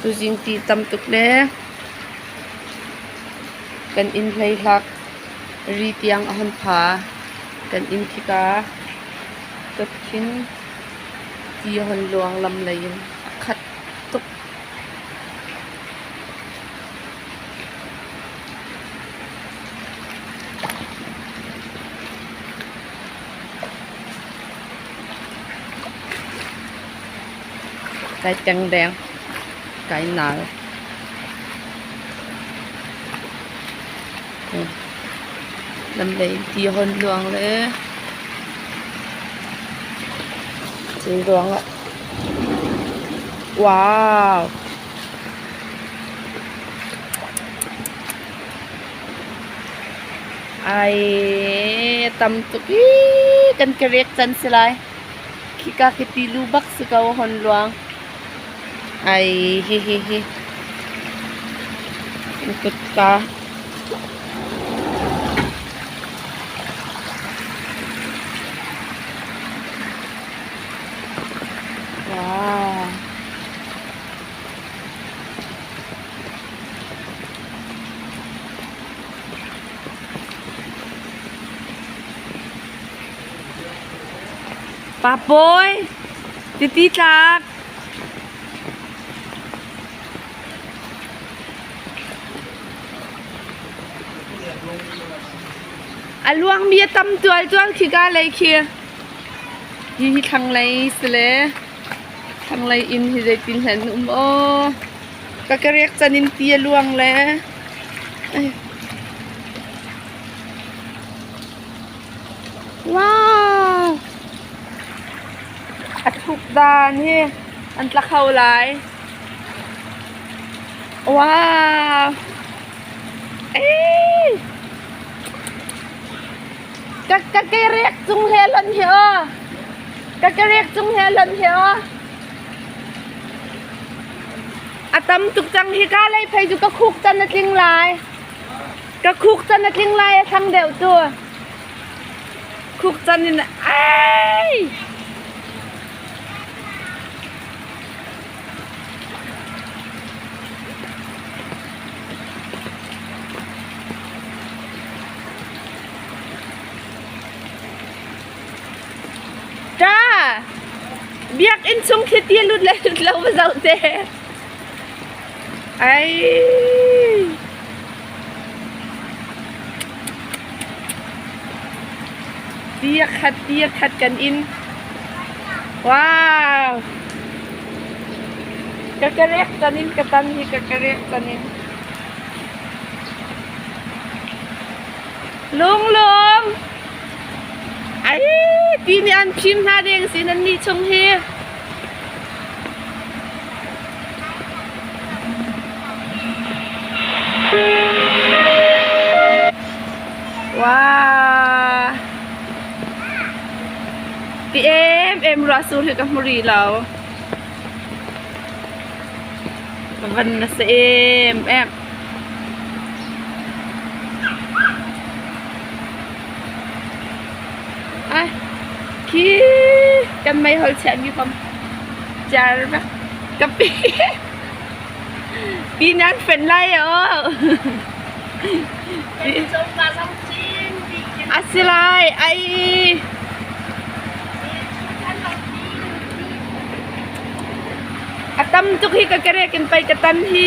Tuzing ti tam tuk le kan inn hleihak ri tiang a hon pha. Kan inn khika dotthing ti a hon luang lam lei in a khat tuk. Kai kengdeng, kai nal. Lam lei ti hon luang le thil luang ah. Wow! Ai, tam tuk i kan ka rek can si lai. Khika ka ti lu bak si ko hon luang. Ai, hi hi hi. Kan kutka. Wow. Pa Pawi, titi tlak. A luang mi a tam tual tual khi ga lei khi. Hi hi thlanglei si le thlanglei inn hi zeitin hlan um aw. Ka kerek can in ti a luang le. Wow! A tukdan hi an tla kho lai. Wow! Ei! Ka ka kerek cung he lon hi o. Ka kerek cung he lon hi o. A tam tuk cang hika lei phei cu ka khuk can a tling lai. Ka khuk can a tling lai a thang deuh tu. Khuk can in ai. Ṭa, biakinn chung khi ti lut le lut lo va zoh te. Ai. Tia khat, tia khat kan in. Wow. Kakarek tanin katan hi kakarek tanin. Lung lung. ti nih an fim hna ding sin annih chung hi Wow. Ti em em ra su hi ka muri lo. Van na se em em. khi kan meihol chiahmi kom cer vek ka pi pi nan fenh lai aw a si lai ai a tam tuk hi ka kerek in pei ka tan hi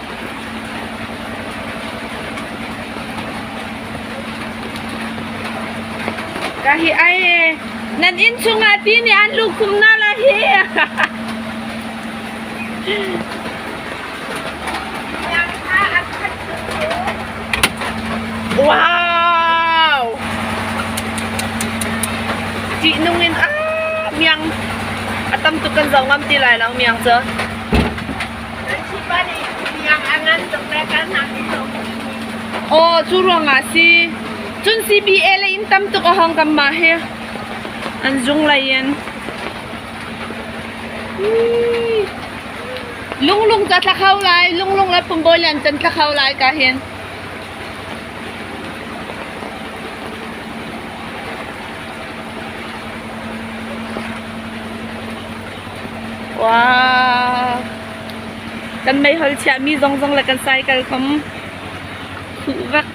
Ka hi ai nan inn chungah ti nih an lukhum na la hi. Wow! Ti nung in ah miang atam tu kan zau ngam ti lai lang miang cu. Aw, cu ruang ah si. Cun CBA le in tam tuk a hong tam ma hi. An zung lai in. Lunglung ca tla kho lai. Lunglung le Pumbawi le an can tla kho lai ka hin. Wow! Kan meihol chiahmi zonzong le kan cycle kom huh vek.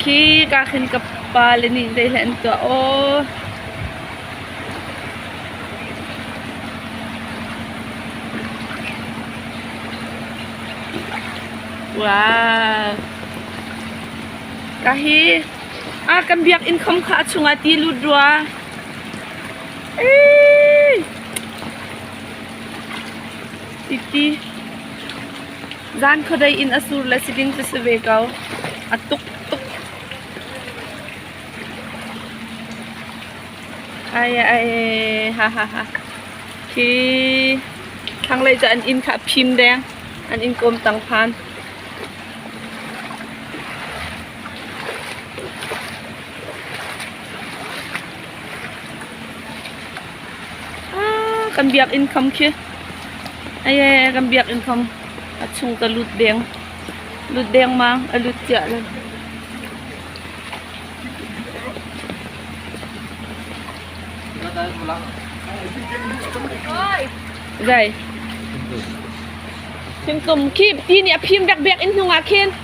Khi ka khin ka pa le nih zei hlei an tuah aw. Wow! Ka hi ah kan biakinn khom kha a chungah ti lut rua. Zan khuadei in a sur le siding cu si ve ko. A tuk tuk. Ai ai ha ha ha. Hi thlanglei cu an inn kha a phim deng. An inn kawm tang phan. kan biakinn kham khi aye kan biakinn kham a chung ta lut deng lut deng mang a lut chiah le gai thingtum khi ti nih a phim bek bek in hnungah khin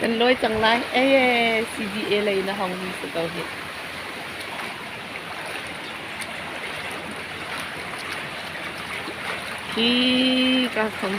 Kan lawi cang lai. Ee, CDA lei na hongmi si ko hih. Hi ka khong.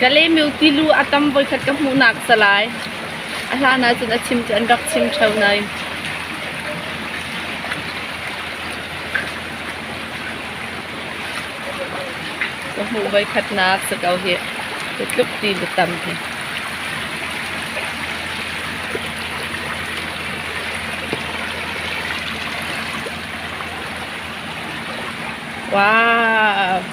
Ka lemeu ti lu a tam voikhat ka hmuhnak salai a hlan ahcun a chim cu an rak chim ṭheo nain ka hmuh voikhatnak si ko hi cu tluk ti lu tam hi. Wow.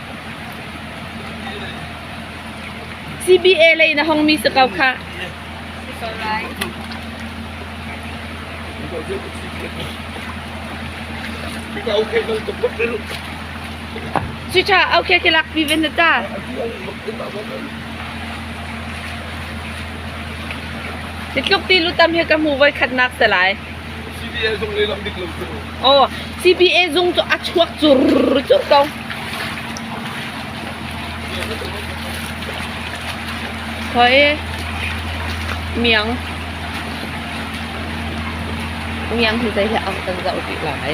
CBA lei na hongmi si ko khah. Cuca okay ke lak pi ven ta. Ni tluk ti lutam hi ka hmu voi khatnak te lai. CBA zung cu a chuak curr curr ko. Khoi miang miang hi zei he ang kan zoh dih lai.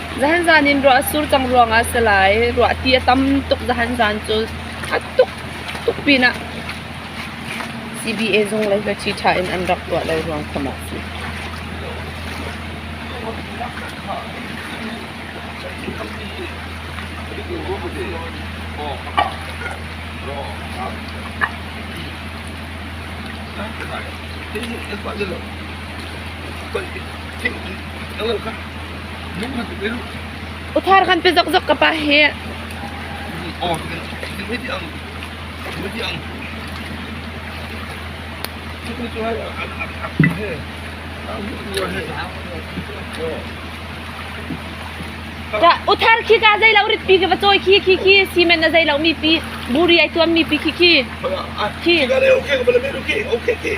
zahanzan in ruah a sur cang ruangah si lai. Ruah ti a tam tuk zahanzan cu a tuk tuk pinah CBA zung lei hi ṭha in an rak tuah lo ruang kha mah si. Thank you. Uthar kan pe zokzok ka pa hi. Uthar khi ka zei lo rit pi ke va choi khi khi khi simen na zei lo mi pi buri ai tuam mi pi khi khi. Khi. Okay, okay, okay, okay.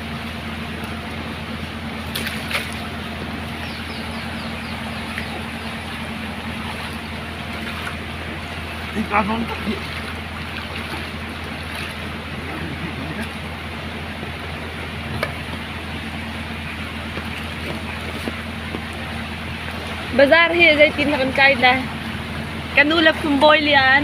Hika hmang tak hi. Bazar hi zeitin rak in kai dai. Kanu le phumbawi lian.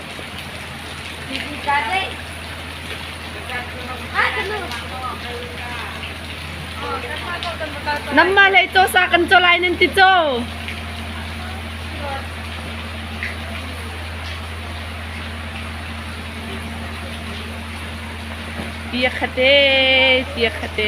Namma lei caw sa kan caw lai nan ti caw. Tia khate, tia khate.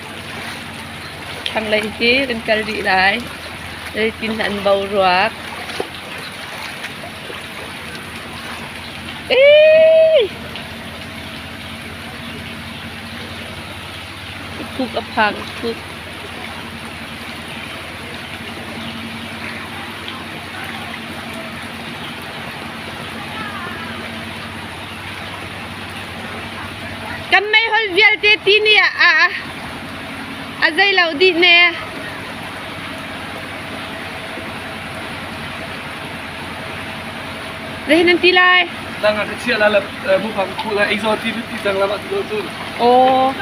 Thlanglei hi kan kal dih lai. Zeitin an boruak. Thuk a phang, thuk. Kan meihol vialte ti ni ah a, a zei lo dih ne. Reh nan ti lai. Lang ah ka chia la mu pang khu la exo ti ti tang lama tu tu. Oh.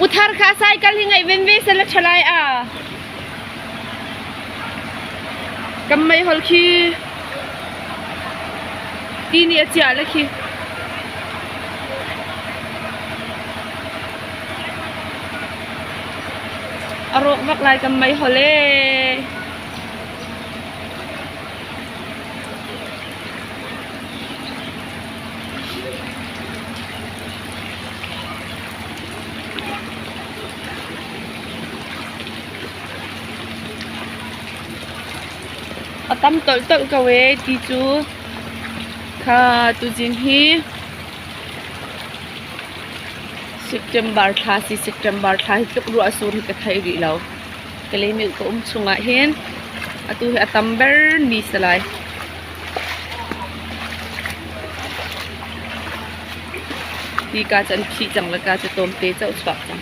Uthar kha cycle hi ngai venve se la thalai a. Kan meihol khi ti nih a ciah le khi. A rawk bak lai kan meihol ee. A tam tolhtolh ko ee ti cu. Kha tuzing hi September thla si September thla hi tluk ruah sur hi ka thei rih lo. Kalaymilk ka um chungah hin atu hi a tam ber ni salai. Ti ka chan khi cang la ka cu tom te chau chuak cang.